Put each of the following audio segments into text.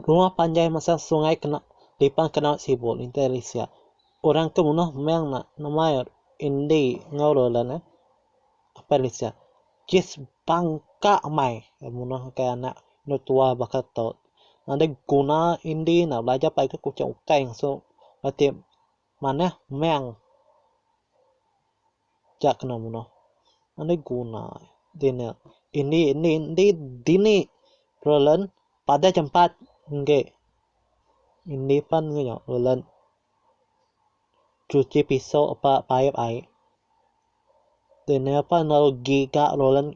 Rumah panjai masa sungai kena lipan ke naut sibu intai ari sia. Orang ke munoh meng na nemai indi enggau lelen eh apai ali sia. Kes bangka amai munoh ke anak enda tua baka tu. Nadai guna indi ne belajar pagi ke kuching ukai ngesu reti manah meng Nya kena menoh. Enda guna dini. Indi indi indi dini Roland padah jempat enggi. Indi pan enggau nya Roland cuci piso ba paip ai. Dini pan lalu giga Roland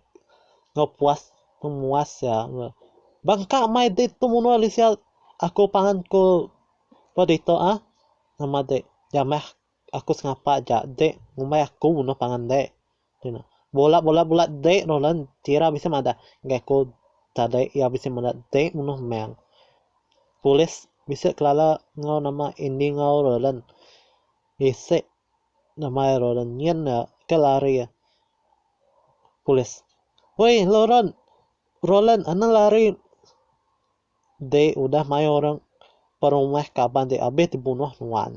enggau puas pemuas iya. Bangka mai dek tu menua Malaysia aku pangan ku ba ditu ah. Nama dek jamah. aku sengapa aja de ngumbai aku noh pangan de ku iya. Bola bola bola de Roland Tira bisi madah ngagai aku tadi iya bisi madah de munoh meng. Polis bisi kelala enggau nama Andy enggau Roland bisi nama iya Roland nyin iya ke lari polis. Woi Roland Roland anang lari. deh udah mai orang perumah kaban deh abih di bunuh nuan.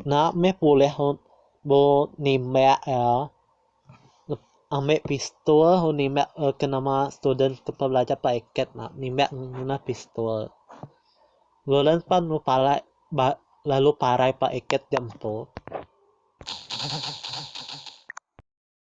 Nak meh pulih bu nimbak ya ambil pistol lalu nimbak ke nama student ke belajar ba iket nak nimbak ngena pistol. Lolan pan lu parak ba lalu parai ba iket diatu.